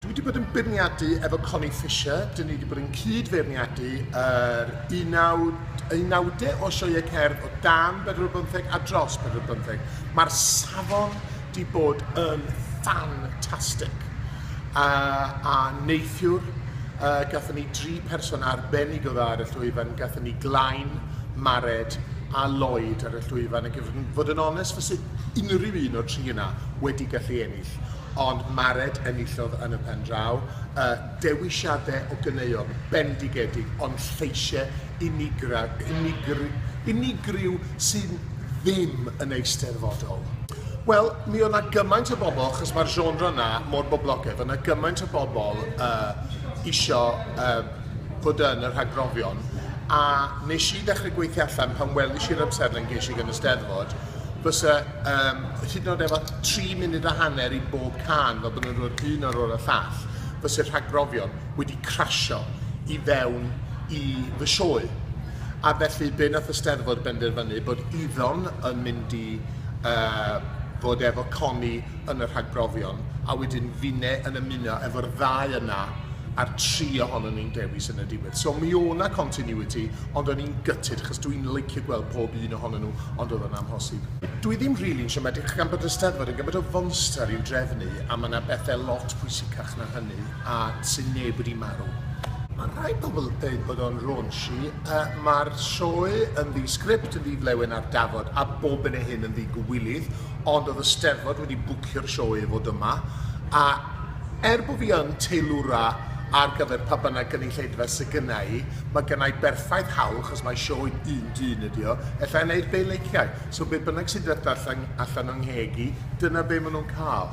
Dwi wedi bod yn beirniadu efo Connie Fisher. Dyn ni wedi bod yn cyd-feirniadu yr unawd, unawdau o sioeau cerdd o dan 45 a dros 45. Mae'r safon wedi bod yn ffantastig. Uh, a neithiwr, uh, gathen ni dri person arbennig o dda ar y llwyfan. Gathen ni Glain, Mared a Lloyd ar y llwyfan. Ac i fod yn onest, fysa unrhyw un o'r tri yna wedi gallu ennill, ond Mared enillodd yn y pen draw. Y dewisiadau o ganeuon bendigedig ond lleisiau unigra, unigr, unigryw sydd ddim yn eisteddfodol. Wel, mi oedd 'na gymaint o bobl, achos mae'r genre 'na mor boblogaidd, oedd 'na gymaint o bobl uh, isio uh, fod yn y rhagbrofion, a nes i ddechrau gweithio allan pan welis i'r amserlen ges i gan y Steddfod, fysa um, hyd yn oed efo tri munud a hanner i bob can fel bod nhw'n dod un ar ôl y llall, fysa'r rhagbrofion wedi crasio i fewn i fy sioe. A felly be nath y Steddfod benderfynu bod iddo'n yn mynd i uh, fod efo Connie yn y rhagbrofion a wedyn finne yn ymuno efo'r ddau yna a'r tri ohonyn ni'n dewis yn y diwedd. So mi o'na continuity Ond o'n i'n gutted achos dw i'n licio gweld pob un ohonyn nhw, ond oedd o'n amhosib. Dw i ddim rili'n siomedig gan bod y Steddfod yn gymaint o fonster i'w drefnu a mae 'na bethau lot pwysicach na hynny a sy'n neb wedi marw. Mae rhai pobl yn dweud bod o'n raunchy, mae'r sioe yn ddi-sgript, yn ddi-flewyn ar dafod a bob hyn a hyn yn ddi-gywilydd, ond oedd y Steddfod wedi bwcio'r sioe i fod yma a Er bo fi yn teilwra ar gyfer pa bynnag gynulleidfa sy gynna i, ma gynna i berffaith hawl, chos mae sioe un dyn ydi o, ella i wneud be leiciai, so be bynnag sy'n dod allan allan o'n ngheg i, dyna be ma nhw'n cael.